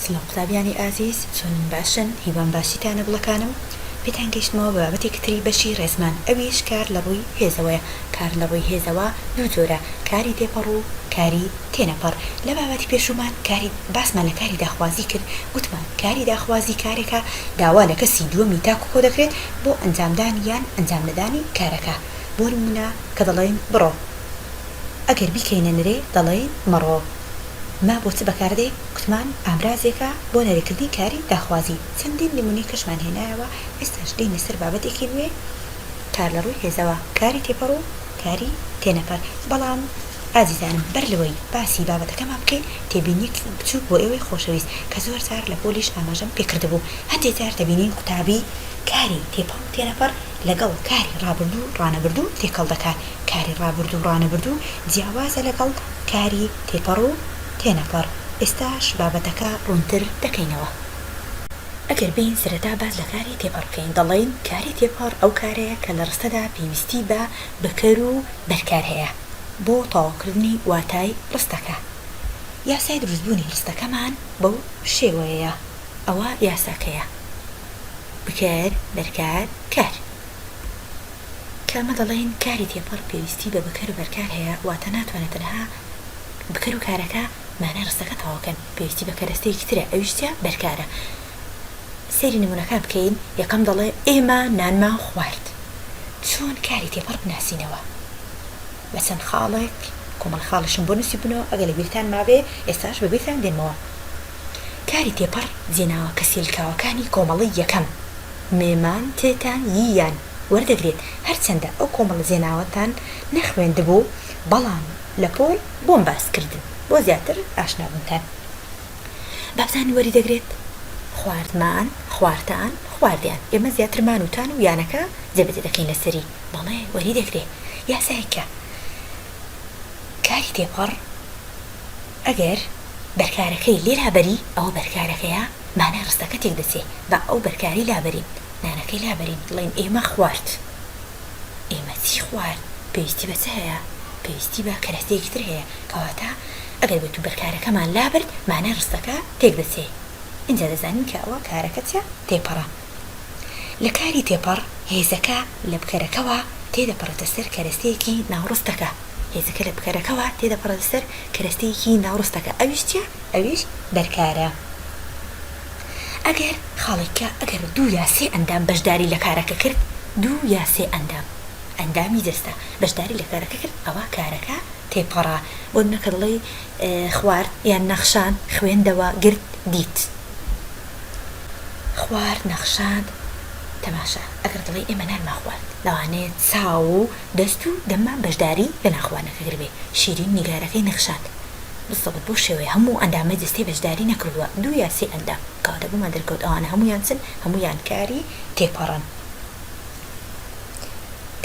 سڵاو قوتابیانی ئازیز چۆنن باشن هیوام باشیتانە بڵەکانم پێتان گەیشتمەوە بە بابەتێکی تری بەشی ڕێزمان ئەویش کار لە ڕووی هێزەوەیە کار لە ڕووی هێزەوە دوو جۆرە کاری تێپەڕ و کاری تێنەپەڕ لە بابەتی پێشوومان کاری باسمان لە کاری داخوازی کرد وتمان کاری داخوازی کارێکە داوا لە کەسی دووەمی تاک و کۆ دەکرێت بۆ ئەنجامدانی یان ئەنجام نەدانی کارەکە بۆ نموونە کە دەڵێین بڕۆ ئەگەر بیکەینە نرێ دەڵێین مەڕۆ. ما بۆ چ بەکاردەین؟ گوتمان ئامرازێکە بۆ نەرێکردنی کاری داخوازی، چەندین نمونەی کەشمان هێنایەوە، ئێستاش دێینە سەر بابەتێکی نوێ کار لەڕووی هێزەوە، کاری تێپەڕ و کاری تێنەپەر، بەڵام ئازیزانم بەر لەوەی باسی بابەتەکەمان بکەین تێبینیەکی بچوک بۆ ئێوەی خۆشەویست کە زۆر جار لە پۆلیش ئاماژەم پێکردبوو هەندێ جار دەبینین قوتابی کاری تێپەڕ و تێنەپەڕ لەگەڵ کاری ڕابردوو ڕانەبردوو تێکەڵ دەکات، کاری ڕابردوو ڕانەبردوو جیاوازە لەگەڵ. کاری تێپەڕ و تێنەپەڕ ئێستاش بابەتەکە ڕوونتر دەکەینەوە. ئەگەر بێین سەرەتا باس لە کاری تێپەڕ بکەین دەڵێین کاری تێپەڕ ئەو کارەیە کە لە ڕستەدا پێویستی بە بکەر و بەرکار هەیە بۆ تەواوکردنی واتای ڕستەکە. یاسای دروستبوونی ڕستەکەمان بەو شێوەیەیە ئەوە یاساکەیە، بکەر، بەرکار، کار. کە ئەمە دەڵێین کاری تێپەڕ پێویستی بە بکەر و بەرکار هەیە، واتە ناتوانێت تەنها بکەر و کارەکە مانای ڕستەکە تەواوکەن، پێویستی بە کەرەستەیەکی ترە ئەویش چیە؟ بەرکارە. سەیری نمونەکان بکەین، یەکەم دەڵێ، ئێمە نانمان خوارد. چۆن کاری تێپەڕ بناسینەوە؟ بە چەند خاڵێک، کۆمەڵە خاڵیشم بۆ نوسیبونەوە، ئەگەر لە بیرتان مابێ ئێستاش بە بیرتان دێنمەوە. کاری تێپەڕ جێناوە کە سیلکاوەکانی کۆمەڵەی یەکەم، مێمان تێتا یی، یان وەردەگرێت، هەرچەندە ئەو کۆمەڵە جێناوەتان نەخوێندبوو، بەڵام لە پۆل بۆم باس کردن بۆ زیاتر ئاشنا بوونتان بابتان وەری دەگرێت، خوارد مان، خوارتان، خواردیان، ئێمە زیاتر مان و تان و یانەکە جێبەجێ دەکەین لە سەری، بەڵێ وەری دەگرێ یاسایەک کە کاری تێپەڕ. ئەگەر بەرکارەکەی لێرا بەری ئەوە بەرکارەکەیە مانای ڕستەکە تێک دەچێ با ئەو بەرکارەی لابەرین نانەکەی لابەرین بڵێین ئێمە خوارد ئێمە چی خوارد پێویستی بە چ هەیە پێویستی بە کەرەستەیەکی تر هەیە کەواتە ئەگەر بێتو بەرکارەکەمان لابرد مانای ڕستەکە تێک دەچێ ئینجا دەزانین کە ئەوە کارەکە چە تێپەڕە. لە کاری تێپەڕ، هێزەکە لە بکەرەکەوە تێدەپەڕێتە سەر کەرەستەیەکی ناوڕستەکە، هێزەکە لە بکەرەکەوە تێدەپەڕێتە سەر کەرەستەیەکی ناوڕستەکە، ئەویش چییە؟ ئەویش بەرکارە. ئەگەر خاڵێککە ئەگەر دوو یا سێ ئەندام بەشداری لە کارەکە کرد، دوو یا سێ ئەندام، ئەندامی جەستە، بەشداری لە کارەکە کرد، ئەوا کارەکە تێپەڕە. بۆ نموونە کە دەڵێی، خوارد، یان نەخشان، خوێندەوە، گرت، دیت. خوارد نەخشاند تەماشا ئەگەر دڵی ئێمە نانمان خوارد لەوانەیە چاو و دەست و دەممان بەشداری لە نانخواردنەکە کردبێ شیرین نیگارەکەی نەخشاند بزەوت بەو شێوەیە هەموو ئەندامەی جەستەی بەشداری نەکردووە دوو یا سێ ئەندام کەواتە بۆمان دەرکەوت ئەوانە هەموویان چن هەموویان کاری تێپەڕن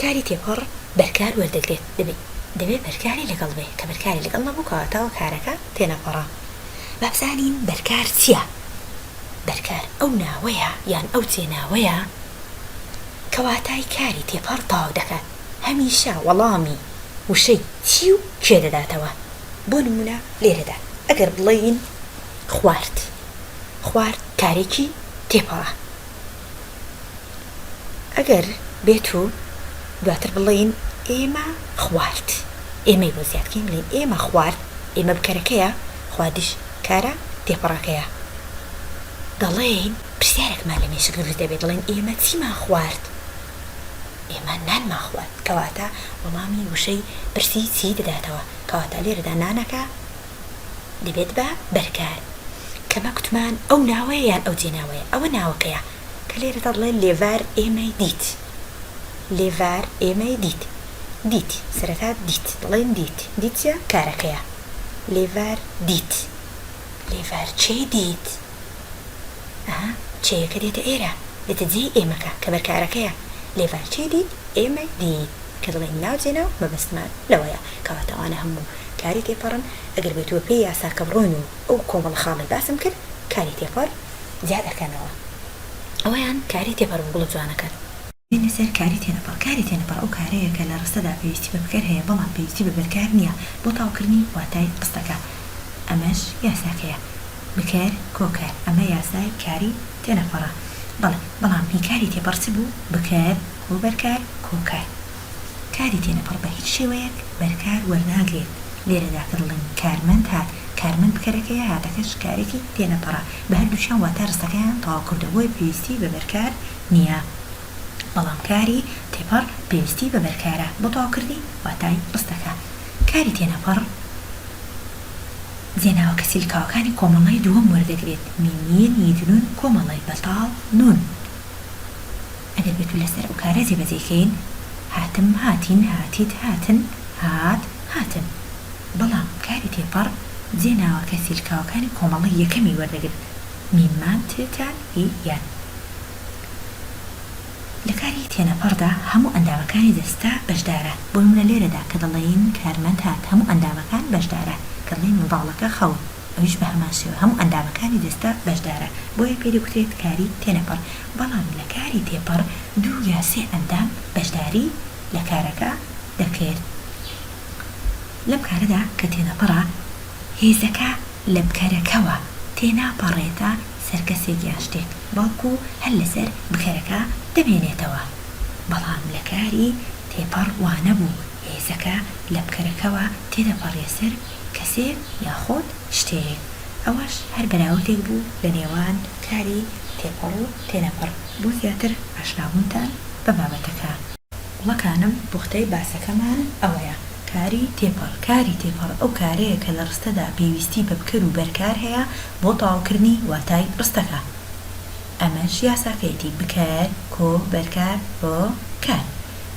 کاری تێپەڕ بەرکار وەردەگرێت دەبێ بەرکاری لەگەڵ بێ کە بەرکاری لەگەڵ نەبوو کەواتە کارەکە تێنەپەڕە با بزانین بەرکار چیە؟ بەرکار ئەو ناوەیە یان ئەو جێناوەیە کە واتای کاری تێپەڕ تەواو دەکات هەمیشە وەڵامی وشەی چی و کێ دەداتەوە بۆ نموونە لێرەدا ئەگەر بڵێین خوارد خوارد کارێکی تێپەڕە. ئەگەر بێت و دواتر بڵێین ئێمە خوارد، ئێمەی بۆ زیاد کەین بڵێین ئێمە خوارد، ئێمە بکەرەکەیە، خواردیش کارە تێپەڕەکەیە. دەڵێین پرسیارێکمان لە مێشک دروست دەبێت دەڵێین ئێمە چیمان خوارد؟ ئێمە نانمان خوارد. کەواتە وەڵامی وشەی پرسی چی دەداتەوە. کەواتە لێرەدا نانەکە. دەبێت بە بەرکار کەمە کوتمان ئەو ناوەیە یان ئەو جێناوەیە ئەوە ناوەکەیە کە لێرە دەڵێ لێڤار ئێمەی دیت لێڤار ئێمەی دیت دیت سەرەتا دیت دەڵێن دیت دیت چیە کارەکەیە لێڤار دیت لێڤار چێی دیت ئەها چێیەکە دێتە ئێرە دێتە جێی ئێمەکە کە بەرکارەکەیە لێڤار چێی دیت ئێمەی دیت. کە دەڵێین ناوچەی ناو مەبەستمان لەوەیە کەواتە ئەوانە هەموو کاری تێپەڕن ئەگەر بێت و بەپێی یاساکە بڕۆین و ئەو کۆمەڵە خاڵەی باسم کرد کاری تێپەڕ زیاد ئەکەنەوە ئەوەیان کاری تێپەڕ بە گوڵە جوانەکەت. دێینە سەر کاری تێنەپەڕ، کاری تێنەپەڕ ئەو کارەیە کە لە ڕستەدا پێویستی بە بکەر هەیە بەڵام پێویستی بە بەرکار نییە بۆ تاوکردنی واتای ڕستەکە ئەمەش یاساکەیە بکەر کۆکەر ئەمە یاسای کاری تێنەپەڕە بەڵێ بەڵام هی کاری تێپەڕ چ بوو بکەر بۆ بەرکار کۆکار کاری تێنەپەڕ بە هیچ شێوەیەک بەرکار وەرناگرێت لێرەدا کە دەڵێم کارمەند هات کارمەند بکەرەکەیە هاتەکەش کارێکی تێنەپەڕە بە هەردووکیان واتا ڕستەکەیان تەواو کردووە بۆیە پێویستی بە بەرکار نییە بەڵام کاری تێپەڕ پێویستی بە بەرکارە بۆ تەواوکردنی واتای ڕستەکە کاری تێنەپەڕ جێناوە کە سیلکاوەکانی کۆمەڵەی دووەم وەردەگرێت مینیین یدنون کۆمەڵەی بەتاڵ نون. ئەگەر بتوینە سەر ئەو کارە جێبەجێی کەین هاتم هاتین هاتیت هاتن هات هاتن بەڵام کاری تێپەڕ جێ ناوە کە سیلکاوەکانی کۆمەڵەی یەکەمی وەردەگرن میم مام ت تا ی یان لە کاری تێنەپەڕدا هەموو ئەندامەکانی دەستە بەشدارە بۆ نمونە لێرەدا کە دەڵێین کارمەند هات هەموو ئەندامەکان بەشدارە کە دڵێین منداڵەکە خەون ئەویش بە هەمان شێوە هەموو ئەندامەکانی جەستە بەشدارە، بۆیە پێ دەگوترێت کاری تێنەپەڕ، بەڵام لە کاری تێپەڕ دوو یا سێ ئەندام بەشداری لە کارەکە دەکرد. لەم کارەدا کە تێنەپەڕە، هێزەکە لە بکەرەکەوە تێناپەڕێتە سەر کەسێک یان شتێک، بەڵکو هەر لەسەر بکەرەکە دەمێنێتەوە. بەڵام لە کاری تێپەڕ وانەبوو، هێزەکە لە بکەرەکەوە تێدەپەڕیە سەر کەسێ یاخود شتێێ ئەوەش هەر بەراوردێک بوو لە نێوان کاری تێپەڕ و تێنەپەڕ بۆ زیاتر ئاشنابوونتان بە بابەتەکە. گوڵەکانم پوختەی باسەکەمان ئەوەیە کاری تێپەڕ کاری تێپەڕ ئەو کارەیە کە لە ڕستەدا پێویستی بە بکەر و بەرکار هەیە بۆ تەواوکردنی واتای ڕستەکە ئەمەش یاساکەیەتی بکەر کۆ بەرکار هۆ کار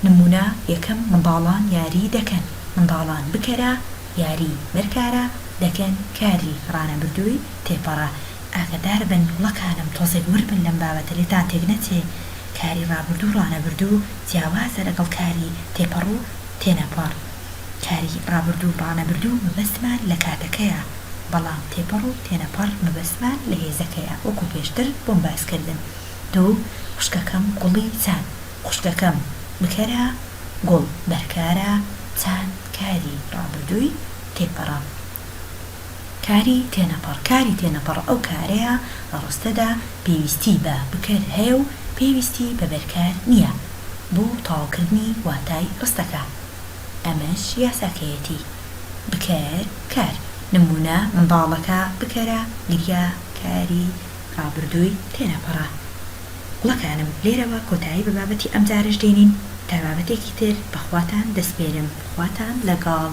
نمونە یەکەم منداڵان یاری دەکەن منداڵان بکەرە یاری بەرکارە دەکەن کاری ڕانەبردووی تێپەڕە ئاگەدار بن گوڵەکانم تۆزێک ورد بن لەم بابەتە لێتان تێک نەچێ کاری ڕابردوو ڕانەبردوو جیاوازە لەگەڵ کاری تێپەڕو تێنەپەڕ کاری ڕابردوو ڕانەبردوو مەبەستمان لە کاتەکەیە بەڵام تێپەڕو تێنەپەڕ مەبەستمان لە هێزەکەیە وەکو پێشتر بۆم باسکردن دوو خوشکەکەم گوڵی چاند خوشکەکەم بکەرە گوڵ بەرکارە چاند کاری ڕابردووی تێپەڕە کاری تێنەپەڕ کاری تێنەپەڕ ئەو کارەیە لە ڕستەدا پێویستی بە بکەر هەیە و پێویستی بە بەرکار نییە بۆ تەواوکردنی واتای ڕستەکە ئەمەش یاساکەیەتی بکەر کار. نموونە، منداڵەکە بکەرە گریا کاری ڕابردووی تێنەپەڕە گوڵەکانم لێرەوە کۆتایی بە بابەتی ئەمجارەش دێنین تا بابەتێکی تر بەخواتان دەسپێرم خواتان لەگەڵ.